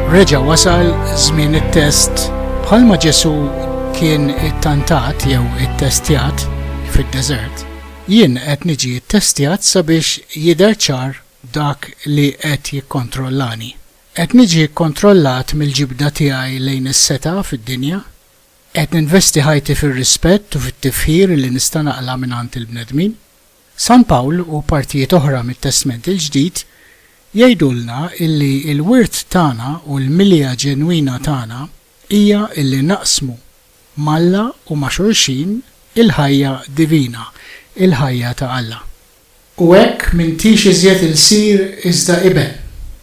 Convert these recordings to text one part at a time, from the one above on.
Reġa wasal żmien it-test bħalma Ġesu kien it-tantat jew it-testjat fid-deżert, jien qed niġi ttestjat sabiex jidher ċar dak li qed jikkontrollani. Qed niġi kkontrollat mill-ġibda tiegħi lejn is-setgħa fid-dinja Qed ninvesti ħajti fir-rispett u fit-tifħir li nista' naqla' mingħand il-bnedmin? San Pawl u partijiet oħra mit-Testment il-Ġdid jgħidulna illi l-wirt tagħna u l-milja ġenwina tagħna hija illi naqsmu m'Alla u ma' xulxin il-ħajja divina, il-ħajja ta' Alla. U hekk m'intix iżjed ilsir iżda iben,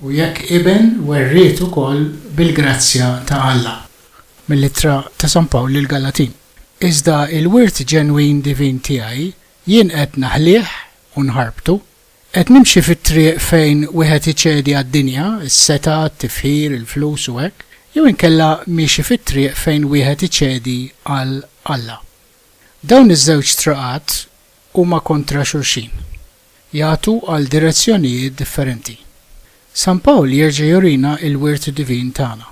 u jekk iben werriet ukoll bil-grazzja ta' Alla. Mill-Ittra ta' San Pawl lill-Galatin. Iżda il-wirt ġenwin divin tiegħi jien qed naħlih u nħarbtu. Qed nimxi fit-triq fejn wieħed iċedi għad-dinja, is-setgħa, t-tifħir, il-flus u hekk, jew inkella miexi fit-triq fejn wieħed iċedi għal Alla? Dawn iż-żewġ triqat huma kontra xulxin, jagħtu għal direzzjonijiet differenti. San Pawl jerġa' jurina l-wirt divin tagħna.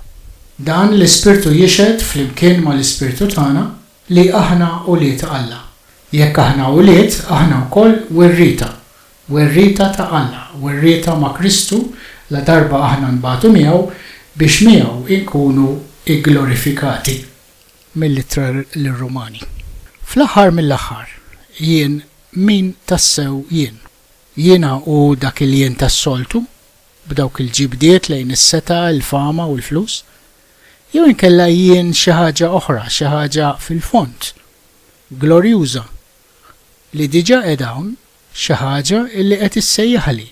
Dan l-ispirtu jixhed flimkien mal-ispirtu tagħna li aħna ulied Alla. Jekk aħna ulied, aħna wkoll werrieta, werrieta ta' Alla, werrieta ma' Kristu ladarba aħna nbatu miegħu biex miegħu nkunu gglorifikati. mill-Ittra lir-Rumani. Fl-aħħar mill-aħħar, jien min tassew jien? Jiena u dak il-jien tas-soltu, b'dawk il-ġibdiet lejn is-setgħa, il-fama u l-flus? Jew inkella jien xi ħaġa oħra, xi ħaġa fil-fond, glorjuża, li diġà qiegħda hawn, xi ħaġa li qed issejjaħli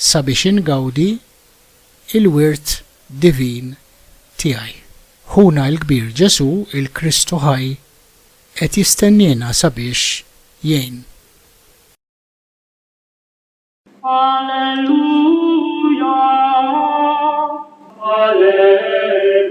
sabiex ingawdi il-wirt divin tiegħi. Ħuna l-kbir Ġesù, il-Kristu ħaj, qed jistenniena sabiex jgħin. Alleluja, alleluja.